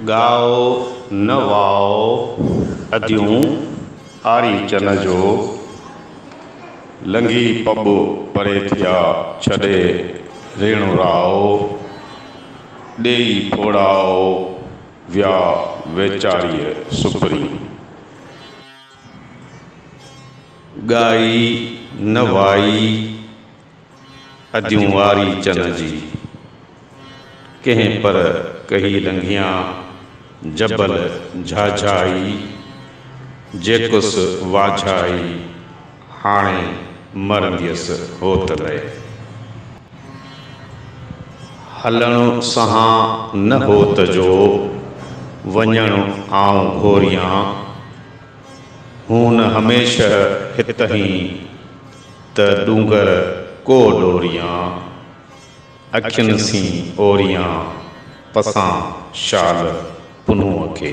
ڳائو نه وائو اديون آري چن جو، لنگهي پٻ پري ٿيا ڇڏي ريڻ رائو، ڏيئي ڦوڙائو ويا ويچاريء سپري. ڳائي نه وائي اديون واري چن جي. ڪنهن پر ڪهي لنگهيان جبل جهاجهائي. جيڪس واجهائي هاڻي مرنديس هوت لئي. هلڻ سهان نه هوت جو، وڃڻ آئون گهوريان. هون هميشه هتهين، ته ڏونگر ڪو ڏوريان. اکين سين اوريان، پسان شال پنهونء کي.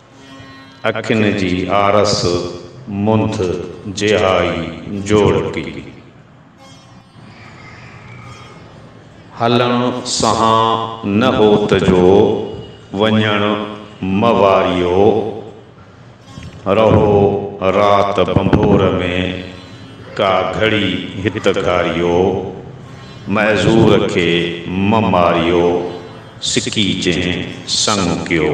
اکين جي آرس منڌ جهائي جوڙڪي. هلڻ سهان نه هوت جو وڃڻ مواريو. رهو رات ڀنڀور ۾ ڪا گهڙي هت گهاريو. معذور کي م ماريو سڪي جنهن سڱ ڪيو.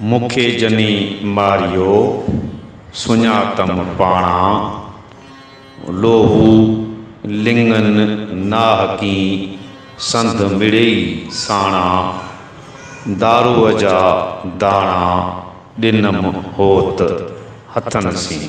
مون کي جني ماريو، سڃاتم پاڻان، لوهو لڱن ناهڪين سنڌ مڙيئي ساڻان، دارو جا داڻا ڏنم هوت هٿن سين.